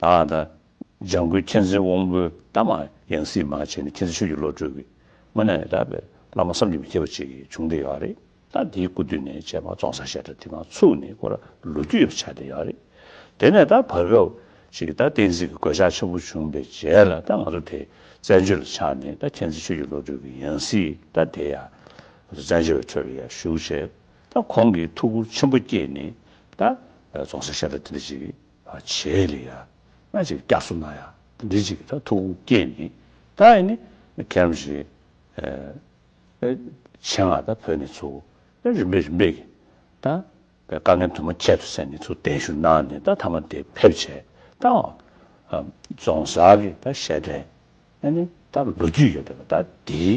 བདག་དང། ལྗང་གུའི་མཁྱེན་བརྩེའི་དབང་པོའི་གཏམ་མ་ཡང་སྲིད་མ་བྱས་ནས་མཁྱེན་བརྩེ་ཆོས་ཀྱི་བློ་གྲོས་ཀྱིས་སྔོན་ན་ནས་དར་བའི་བླ་མ་བསམ་གྱིས་མི་ཁྱབ་པ་ཅིག་གི་བྱུང་སྡེ་ཡོད་རེད་ད་དེའི་སྐུ་དུས་ནས་བྱས་པ་བཙོང་ས་བཤད་གྲྭ་དེ་མ་ཚུགས་ནས་ཁོ་ར་ལོ་རྒྱུས་ཡོད་པ་ཆགས་བསྡད་ཡོད་རེད་དེ་ནས་ད་བར་སྐབས་ཤིག་ད་བསྟན་སྲིད་ཀྱི་གོད་ཆག་ཆེན་པོ་བྱུང་པའི་རྗེས་ལ་ད་ང་ཚོ་དེ་བཙན་བྱོལ་ལ་ཆགས་ནས་ད་མཁྱེན་བརྩེ་ཆོས་ཀྱི་བློ་གྲོས་ཀྱིས་ཡང་སྲིད་ད་དེ་ཡང་ང་ཚོ་བཙན་བྱོལ་བའི་ཁྲོད་ལ་ཡར་ཞུགས་བྱས། ད་ཁོང་གིས་ཐུགས་ཁུར་ཆེན་པོ་བསྐྱེད་ནས་ད་རྫོང་སར་ཤ་ཏག་དེ་འདྲ་ཅིག་བྱས་ལ་ཡ་ང་ཅིག་སྐྱག་སུ་ན་ཡ་དེ་འདྲ་ཅིག་ད་ཐུགས་ཁུར་བསྐྱེད་ནས་ད་ཨེ་ནི་ཁྱེད་རང་བཞིན་ཆེད་ང་ད་བོད་ནས་ཚུར་ད་རིམ་པས་རིམ་པས་ཀྱིས་ད་བའི་དཀའ་ངལ་དུ་མ་ཁྱད་དུ་བསད་ནས་ཚུར་གདན་ཞུ་གནང་ནས་ད་ཐ་མ་དེ་ཕེབས་བྱས་ད་རྫོང་སར་གྱི་ད་ཤ་ཏག་ཨེ་ནི་ད་ལོ་རྒྱུས་ཡོད་པའི་ད་དེའི།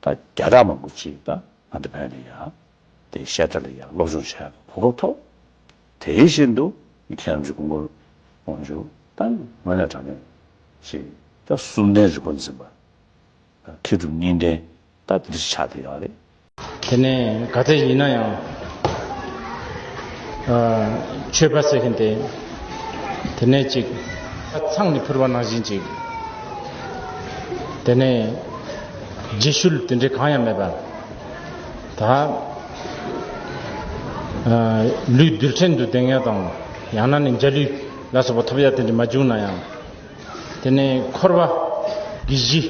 ད་རྒྱ་གྲགས་མང་པོ་ཅིག་ད་ང་ཚོ་བོད་ནས་ཡང་དེ་བཤད་གྲ་ལ་ཡང་སློབ་སྦྱོང་བྱས་གོ་སྐབས་ཐོབ། དེ་བཞིན་དུ་མཁས་རམས་ཀྱི་ཀུན་སྐོར་དབང་ཕྱུག་ད་ངོས་ནས་དྲང་གནས་ཞིག་ད་གསུམ་ལྡན་རི་བོ་འཛིན་པ་མཁས་གྲུབ་གཉིས་ལྡན་ད་འདིར་ཆགས་བསྡད་ཡོད་རེད། དེ་ནས་ག་ཚད་ཡིན་ན་ཡང་ཆོས་པ་ཟེར་མཁན་དེ་དེ་ནས་ཅིག་ཚང་ནས་ཕུར་བ་ནང་བཞིན་ཅིག་དེ་ནས། རྗེས་ཤུལ་དེ་འདྲའི་གང་ཡང་མེད་པ། ད། ལུས་རྡུལ་ཕྲན་དུ་བདེ་ངལ་དང། ཡང་ན་ནི་འཇའ་ལུས་ལ་སོགས་པ་ཐོབ་ཡ་དེ་འདྲ་མ་བྱུང་ན་ཡང། དེ་ནས་འཁོར་བ། གི་གཞི།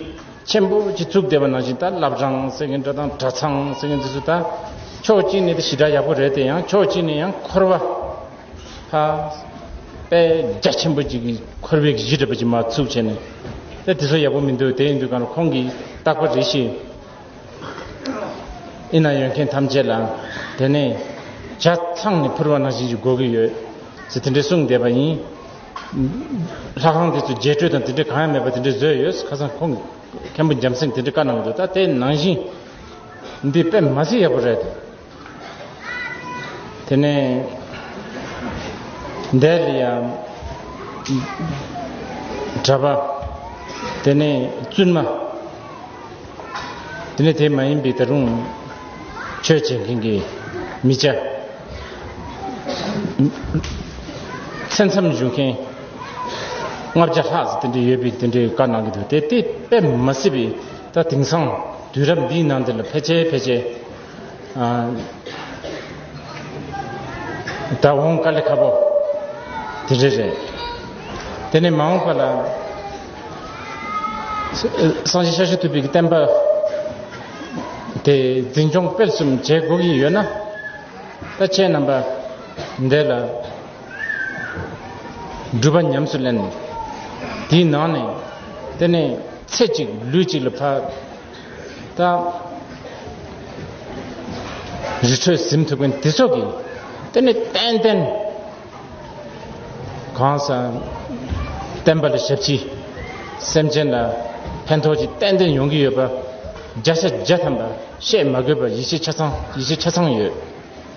ཆེན་པོ་གཅིག་བཙུགས་བསྡད་པ་ནང་བཞིན་ད་བླ་བྲང་ཟེར་མཁན་འདྲ་དང་གྲྭ་ཚང་ཟེར་མཁན་དེ་ཚོས་ད། ཕྱོགས་གཅིག་ནས་དེ་ཞི་དྲག་ཡག་པོ་རེད་དེ་ཡང་ཕྱོགས་གཅིག་ནས་ཡང་འཁོར་བ། ཧ། པད་རྒྱ་ཆེན་པོ་ཅིག་གིས་འཁོར་བའི་གཞི་སྒྲིབ་པ་ཅིག་མ་ཚུགས་བྱས་ནས། ཨེ་དེ་ཚོ་ཡག་པོ་མི་འདུག་དེ་ཡིན་དུས་གང་ཁོང་གིས་བརྟག་པ་རེ་ཤི། ཨེ་ན་ཡོད་མཁན་ཐམས་ཅད་ལའང་དེ་ནས་བྱ་ཚང་ནས་ཕུར་བ་ནང་བཞིན་གྱི་སྒོ་གི་ཡོད། ཚེ་དེ་འདྲའི་གསུང་བསྡད་པ་ཡིན། ལྷ་ཁང་དེ་ཚོ་རྒྱས་སྤྲོས་དང་དེ་འདྲའི་གང་ཡང་མེད་པ་དེ་འདྲའི་བཟོས་ཡོད་ཁ་སང་ཁོང་གིས་མཁན་པོ་འཇམ་སེང་དེ་འདྲའི་བཀའ་གནང་འདུག་ད་དེ་ནང་བཞིན་འདི་དཔེ་མ་ཚད་ཡག་པོ་རེད། དེ་ནས་འདས་དེ་ཡང་གྲ་པ་དེ་ནས་བཙུན་མ་དེ་ནས་དེ་མ་ཡིན་པའི་ད་རུང་ཆོས་བྱེད་མཁན་གྱི་མི་བྱ་ཚེ་མཚམས་བཞུགས་མཁན་ལྔ་བརྒྱ་ལྷག་ཙམ་དེ་འདྲ་ཡོད་པའི་དེ་འདྲའི་བཀའ་གནང་གི་འདུག་དེ་དེ་དཔེ་མ་སྲིད་པའི་ད་དེང་སང་དུས་རབས་འདིའི་ནང་འདི་ལ་ཕལ་ཆེར་ཕལ་ཆེར་ད་འོང་ཀ་ལི་ཁ་པོ་དེ་རེད་རེད་དེ་ནས་མ་འོང་པ་ལ་སང་ཞིག་ཤ་ཤུ་ཐུབ་པའི་བསྟན་པ་དེ་འཛིན་སྐྱོང་སྤེལ་གསུམ་བྱེད་དགོས་ཀྱི་ཡོད་ན་ད་ཁྱེད་རྣམ་པ་འདས་ལ་སྒྲུབ་པ་ཉམས་སུ་ལེན་དེའི་ནང་ནས་དེ་ནས་ཚེ་གཅིག་ལུས་གཅིག་ལ་ཕ་དང། རི་ཁྲོད་གཟིམ་ཐུབ་མཁན་དེ་ཚོ་གིས་དེ་ནི་ཏན་ཏན་གང་ཟག་བསྟན་པ་ལ་ཞབས་ཕྱི། སེམས་ཅན་ལ་ཕན་ཐོགས་ཀྱི་ཏན་ཏན་ཡོང་གི་ཡོད་པ་བརྒྱ་ཆ་བརྒྱ་ཐམ་པ་བཤད་མ་དགོས་པར་ཡིད་ཆེས་ཆ་ཚང་ཡིད་ཆེས་ཆ་ཚང་ཡོད།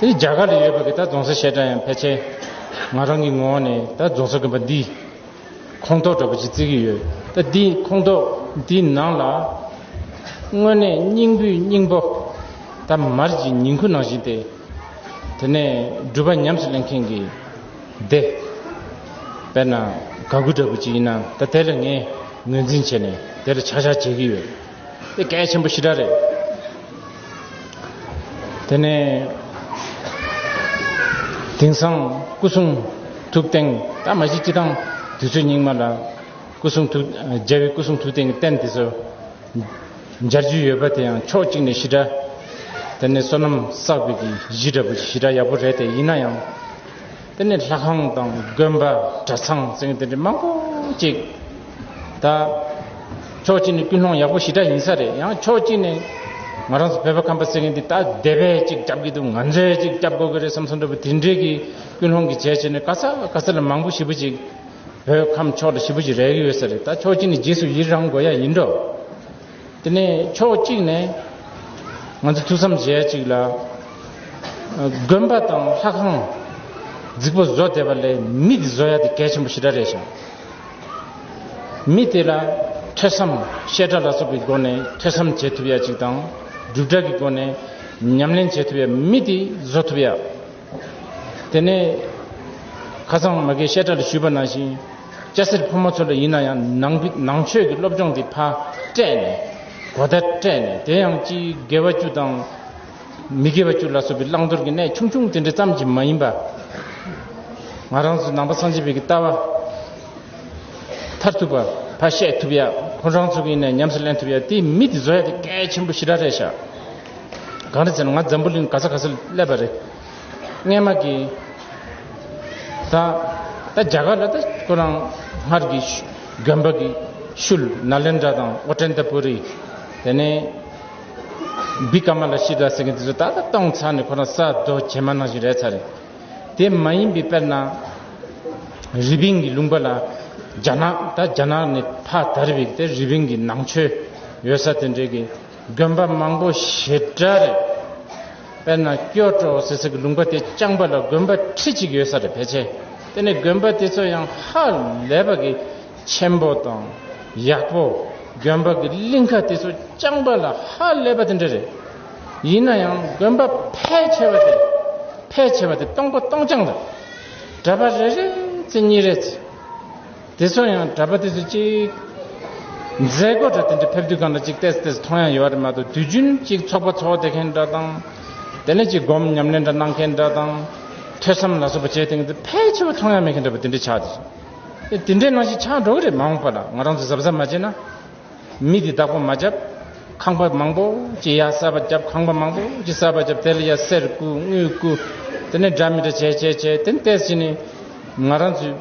དེ་རྒྱ་གར་ལ་ཡོད་པ་གི་ད་རྫོང་སར་བཤད་གྲྭ་ཡང་ཕལ་ཆེར་ང་རང་གི་ངོ་ནས་ད་རྫོང་སར་གི་པ་འདི་ཁོངས་གཏོགས་འདྲ་པོ་ཅིག་བརྩི་གི་ཡོད་ད་འདི་ཁོངས་གཏོགས་འདི་ནང་ལ་དངོས་གནས་སྙིང་བུའི་སྙིང་པོ་ད་མར་གྱི་ཉིང་ཁུ་ནང་བཞིན་ཏེ། དེ་ནས་སྒྲུབ་པ་ཉམས་སུ་ལེན་མཁན་གི་སྡེ། དཔེར་ན་དགའ་མགུ་འདྲ་པོ་ཅིག་ཡིན་ན་ད་དེ་ལ་ངས་ངོས་འཛིན་བྱས་ནས་དེ་ལ་ཆག་ཆག་བྱེད་གི་ཡོད། དེ་གལ་ཆེན་པོ་ཞི་དྲག་རེད། དེ་ནས་དེང་སང་སྐུ་གསུང་ཐུགས་རྟེན་ད་མ་གཞི་སྤྱི་དང་དུས་ཚོད་རྙིང་མ་ལ་སྐུ་གསུང་ཐུགས་རྒྱལ་བའི་སྐུ་གསུང་ཐུགས་རྟེན་གྱི་རྟེན་དེ་ཚོ་སྦྱར་རྒྱུ་ཡོད་པ་དེ་ཡང་ཕྱོགས་གཅིག་ནས་ཞི་དྲག་དེ་ནས་བསོད་ནམས་བསགས་པའི་གཞི་འདྲ་པོ་ཞི་དྲག་ཡག་པོ་རེད་དེ་ཡིན་ན་ཡང། དེ་ནས་ལྷ་ཁང་དང་དགོན་པ་གྲྭ་ཚང་བཙན་དེ་འདྲ་མང་པོ་གཅིག་ད་ཕྱོགས་གཅིག་ནས་ཀུན་སློང་ཡག་པོ་ཞི་དྲག་ཡིན་ས་རེད་ཡང་ཕྱོགས་གཅིག་ནས་ང་རང་ཚོ་བོད་པ་ཁམས་པ་ཟེར་མཁན་འདི་ད་སྡེ་བས་གཅིག་བསྐྱབས་ཀྱི་འདུག་ང་ཚོས་གཅིག་བསྐྱབས་དགོས་ཀྱི་རེད་བསམ་སོང་འདྲ་བུ་དེ་འདྲས་ཀྱི་ཀུན་སློང་གི་བྱས་བྱས་ནས་ག་ས་ག་ས་ལ་མང་པོ་ཞི་བུ་ཅིག་བོད་ཁམས་ཕྱོགས་འདྲ་ཞི་བུ་ཅིག་རེག་ཡོད་ས་རེད་ད་ཕྱོགས་གཅིག་ནས་རྗེས་སུ་ཡི་རང་དགོས་ཡ་ཡིན་འགྲོ། དེ་ནས་ཕྱོགས་གཅིག་ནས་ང་ཚོ་ཐུགས་བསམ་བཞེས་ཡ་ཅིག་ལ། དགོན་པ་དང་ལྷ་ཁང་རྫིག་པོ་བཟོ་བསྡད་པ་ལས་མི་དེ་བཟོ་ཡ་དེ་གལ་ཆེན་པོ་ཞེ་དྲག་རེད་ཞང། མི་དེ་ལ་ཐོས་བསམ་བཤད་གྲྭ་ལ་སོགས་པའི་སྒོ་ནས་ཐོས་བསམ་བྱེད་ཐུབ་ཡ་ཅིག་དང་སྒྲུབ་གྲྭ་གི་སྒོ་ནས་ཉམས་ལེན་བྱེད་ཐུབ་ཡ་མི་དེ་བཟོ་ཐུབ་ཡ། དེ་ནས་ཁ་སང་མ་གའི་བཤད་གྲྭ་རུ་ཞུས་པ་ནང་བཞིན་སྐྱ་སེར་ཕོ་མོ་ཚོ་འདྲ་ཡིན་ན་ཡང་ནང་ནང་ཆོས་ཀྱི་སློབ་སྦྱོང་གི་ཕ་སྤྲད་ནས་གོ་བརྡ་སྤྲད་ནས་དེ་ཡང་སྤྱིའི་དགེ་བ་བཅུ་དང་མི་དགེ་བ་བཅུ་ལ་སོགས་པའི་བླང་དོར་གྱི་གནད་ཆུང་ཆུང་དེ་འདྲ་ཙམ་གྱིས་མ་ཡིན་པ། ང་རང་ཚོ་ནང་པ་སངས་རྒྱས་པའི་ལྟ་བ་མཐར་ཐུག་པ་ཕ་བཤད་ཐུབ་ཡ་ཁོང་རང་ཚོ་གིས་ནས་ཉམས་སུ་ལེན་ཐུབ་ཡ་དེའི་མི་དེ་བཟོ་ཡ་དེ་གལ་ཆེན་པོ་ཞི་ར་རེད་ཤག། གང་རེད་ཟེར་ན་ང་འཛམ་བུ་གླིང་ག་ས་ག་སར་སླེབས་པ་རེད། རྔན་མ་གིས། ད་ད་རྒྱ་གར་ལ་ད་ཁོ་རང་སྔར་གྱི་གྱོན་པ་གི་ཤུལ་ན་ལེན་དྲ་དང་ཨོ་ཀྲན་ཏ་པུ་རི། དེ་ནས། བི་ཀ་མ་ལ་ཤི་དྲ་ཟེར་མཁན་དེ་ཚོ་ད་ད་གཏོང་ཚར་ནས་ཁོ་རང་ས་རྡོ་བྱེ་མ་ནང་བཞིན་རེད་ཚར་རེད། དེ་མ་ཡིན་པའི་དཔེར་ན། རི་པིན་གྱི་ལུང་པ་ལ་རྒྱ་ནག་ད་རྒྱ་ནག་ནས་ཕ་དར་བའི་དེ་རི་པིན་གྱི་ནང་ཆོས་ཡོད་ས་དེ་འདྲའི་གི། དགོན་པ་མང་པོ་ཞེ་དྲག་རེད། དཔེར་ན་སྐྱོ་བྲོ་ཟེར་ཟེར་གྱི་ལུང་པ་དེ་རྐྱང་པ་ལ་དགོན་པ་ཁྲི་གཅིག་ཡོད་ས་རེད་ཕལ་ཆེར་དེ་ནི་དགོན་པ་དེ་ཚོ་ཡང་ཧ་ལས་པ་གི་ཆེན་པོ་དང་ཡག་པོ་དགོན་པ་གི་གླིང་ཁ་དེ་ཚོ་རྐྱང་པ་ལ་ཧ་ལས་པ་དེ་འདྲ་རེད། ཡིན་ན་ཡང་དགོན་པ་ཕལ་ཆེ་བ་དེ་ཕལ་ཆེ་བ་དེ་སྟོང་པ་སྟོང་རྐྱང་རེད། གྲྭ་པ་རེ་རེ་ཚེ་གཉིས་རེ་ཚེ། དེ་ཚོ་ཡང་གྲྭ་པ་དེ་ཚོ་གཅིག། མཛད་སྒོ་གྲྭ་དེ་འདྲ་ཕེབས་དུས་གང་ལ་གཅིག་བལྟས་སུ་བལྟས་སུ་མཐོང་ཡང་ཡོད་པ་རེད་མ་གཏོགས་དུས་རྒྱུན་གཅིག་ཚོགས་པ་ཚོགས་བསྡད་མཁན་འདྲ་དང། དེ་ནས་གཅིག་སྒོམ་ཉམས་ལེན་འདྲ་གནང་མཁན་འདྲ་དང། ཐོས་བསམ་ལ་སོགས་པ་བྱས་ཐེངས་དེ་ཕལ་ཆེ་བ་མཐོང་ཡང་མེད་མཁན་འདྲ་པོ་དེ་འདྲས་ཆགས་འདུག་དེ་འདྲས་ནང་བཞིན་ཆགས་འགྲོ་གི་རེད་མ་འོངས་པ་ལ་ང་རང་ཚོ་གཟབ་གཟབ་མ་བྱས་ན། མི་དེ་བདག་པོ་མ་བྱབ། ཁང་པ་མང་པོ་ཅི་ཡ་སར་པ་བྱབ་ཁང་པ་མང་པོ་ཅི་སར་པ་བྱབ་དེ་ལ་ཡ་སེར་བཀུ་དངུལ་བཀུ། དེ་ནས་འདྲ་མི་འདྲ་བྱས་བྱས་བྱས་དེ་ནས་བལྟས་ཕྱིན་ནི། ང་རང་ཚོས་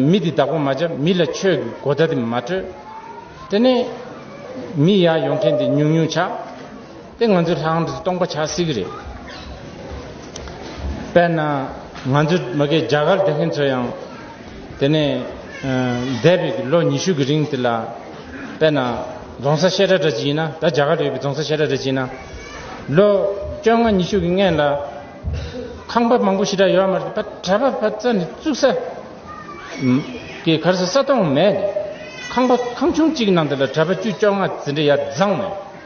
མི་དེ་བདག་པོ་མ་བྱབ་མི་ལ་ཆོས་ཀྱི་གོ་བརྡ་དེ་མ་སྤྲོད། དེ་ནས། མི་ཡར་ཡོང་མཁན་དེ་ཉུང་ཉུང་ཆགས། དེ་ང་ཚོས་ལྷང་འདྲེ་སྟོང་པ་བྱ་སྲིད་ཀྱི་རེད། དཔེར་ན་ང་ཚོའི་མི་སྐད་རྒྱ་གར་སྡེ་མཁན་ཚོ་ཡང། དེ་ནས་འདས་པའི་ལོ་ཉི་ཤུ་གི་རིང་དེ་ལ། དཔེར་ན་རྫོང་སར་བཤད་གྲྭ་འདྲ་ཅིག་ཡིན་ན་ད་རྒྱ་གར་ཡོད་པའི་རྫོང་སར་བཤད་གྲྭ་འདྲ་ཅིག་ཡིན་ན། ལོ་བཅོ་ལྔ་ཉི་ཤུ་གི་སྔན་ལ། ཁང་པ་མང་པོ་ཞིག་གྲྭ་ཡོད་མ་རེད་གྲྭ་པ་བ་རྩ་ནས་བཙུགས་ས། དེ་གར་ས་སྟོང་མེད། ཁང་པ་ཁང་ཆུང་གཅིག་གི་ནང་དེ་ལ་གྲྭ་པ་བཅུ་བཅོ་ལྔ་ཟིན་གྲྭ་ཡ་བཟང་མེད།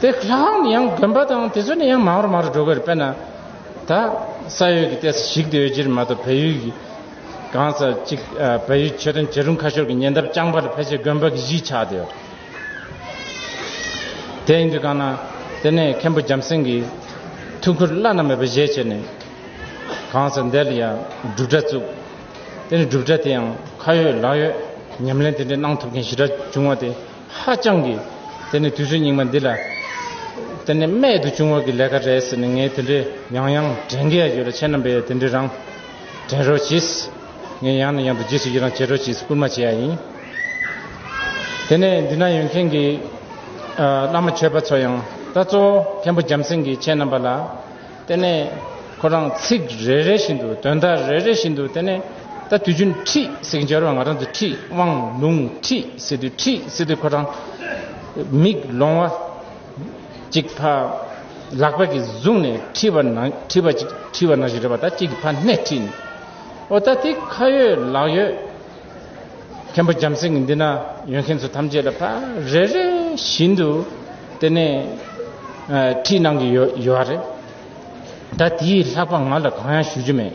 དེ་ལྷའང་ནི་ཡང་དགོན་པ་དང་དེ་ཚོ་ནི་ཡང་མང་རུ་མང་རུ་འགྲོ་གི་རེད་དཔེར་ན། ད་ས་ཡོད་ཀྱི་ལྟས་ས་ཞིག་ཏུ་ཡོད་ཕྱིར་མ་གཏོགས་བལ་ཡུལ་གྱི་གང་ས་ཅིག་བལ་ཡུལ་ཆོས་དོན་བྱེད་རུང་ཁ་ཤོར་གྱི་ཉེ་འདབས་རྐྱང་པ་ལ་ཕལ་ཆེར་དགོན་པ་གི་གཞིས་ཆགས་དེ་ཡོད། དེ་ཡིན་དུས་གང་ན་དེ་ནས་མཁན་པོ་འཇམ་སེང་གིས་ཐུགས་ཁུར་བླ་ན་མེད་པ་བཞེས་བྱས་ནས་གང་ས་དེ་ལ་ཡང་སྒྲུབ་གྲྭ་བཙུགས། དེ་ནས་སྒྲུབ་གྲྭ་དེ་ཡང་ཁ་ཡོད་ལག་ཡོད་ཉམས་ལེན་དེ་འདྲའི་གནང་ཐུབ་མཁན་ཞི་དྲག་བྱུང་བ་དེ། ཧ་ཅང་གི། དེ་ནི་དུས་ཚོད་རྙིང་མ་འདི་ལ། དེ་ནི་རྨད་དུ་བྱུང་བ་གི་ལས་ཀ་རེད་ཟེར་ནས་ངས་དེ་འདྲའི་ཡང་ཡང་དྲན་གི་ཡོད་ལ་ཁྱེད་རྣམ་པས་ཡང་དེ་འདྲའི་རང་དྲན་རོགས་གྱིས། ངས་ཡང་ནས་ཡང་དུ་རྗེས་སུ་ཡི་རང་བྱེད་རོགས་གྱིས་བསྐུལ་མ་བྱས་ཡ་ཡིན། དེ་ནས་འདི་ན་ཡོད་མཁན་གི། བླ་མ་ཆོས་པ་ཚོ་ཡང། ད་གཙོ་བོ་མཁན་པོ་འཇམ་སེང་གིས་ཁྱེད་རྣམ་པ་ལ། དེ་ནས་ཁོ་རང་ཚིག་རེ་རེ་བཞིན་དུ་དོན་དག་རེ་རེ་བཞིན་དུ་དེ་ནས་ད་དུས་རྒྱུན་ཁྲིད་ཟིག་འབྱོར་བ་ང་རང་ཚོ་ཁྲིད་དབང་ལུང་ཁྲིད་ཟིག་དུས་ཁྲིད་ཟིག་དུས་ཁོ་རང་མིག་ལོང་བ་ཅིག་ཕ་ལག་པ་གིས་བཟུང་ནས་ཁྲིད་པ་ན་ཁྲིད་པ་ཅིག་ཁྲིད་པ་ན་ཞིག་རེད་པ་ད་ཅིག་ཕ་སྣེ་ཁྲིད་ནས་ཨོ་ད་དེ་ཁ་ཡོད་ལག་ཡོད། མཁན་པོ་འཇམ་སེང་གི་འདི་ན་ཡོད་མཁན་ཚོ་ཐམས་ཅད་ལ་ཕ་རེ་རེ་བཞིན་དུ་དེ་ནས་ཁྲིད་གནང་གི་ཡོད་ཡོད་རེད་ད་དེའི་ལྷག་པ་ང་ལ་གང་ཡང་ཞུ་རྒྱུ་མེད།